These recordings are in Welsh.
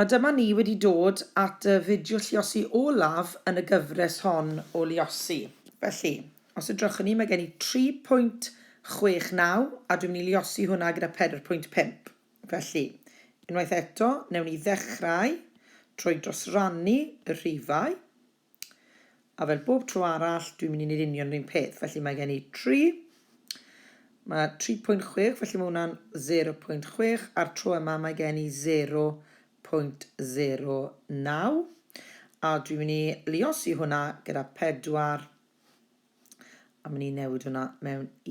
A dyma ni wedi dod at y fideo lluosi olaf yn y gyfres hon o luosi. Felly, os edrychwn ni, mae gen i 3.69 a dwi'n mynd i luosi hwnna gyda 4.5. Felly, unwaith eto, newn ni ddechrau trwy drosrannu y rhifau. A fel bob tro arall, dwi'n mynd i wneud union yr un peth. Felly mae gen i 3, mae 3.6, felly mae hwnna'n 0.6, a'r tro yma mae gen i 0.09, a dwi'n mynd i liosi hwnna gyda 4, a mynd i newid hwnna mewn i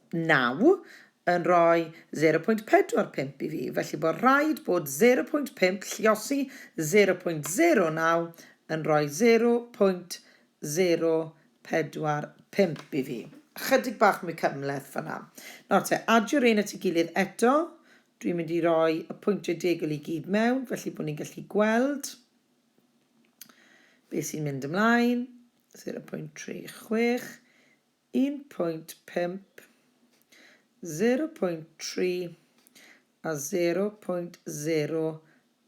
Naw, yn rhoi 0.45 i fi, felly bod rhaid bod 0.5 lliosi 0.09 yn rhoi 0.045 i fi. Ychydig bach mwy cymhleth fanna. Nawr te, adio rein at ei gilydd eto. Dwi'n mynd i roi y pwyntiau degol i gyd mewn, felly bod ni'n gallu gweld beth sy'n mynd ymlaen. 0.36, Un pwynt pump, sero pwynt tri a sero pwynt sero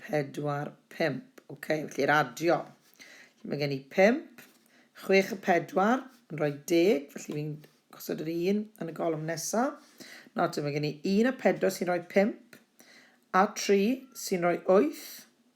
pedwar pump. Ok, felly'r adio. Felly mae gen i pump, chwech a pedwar yn rhoi deg, felly fi'n gosod yr un yn y golwm nesaf. Nawr te, mae gen i un a pedwar sy'n rhoi pump, a tri sy'n rhoi wyth,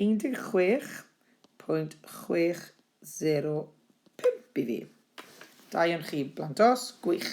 16.60 pump i fi. Da iawn chi blant os. Gwych.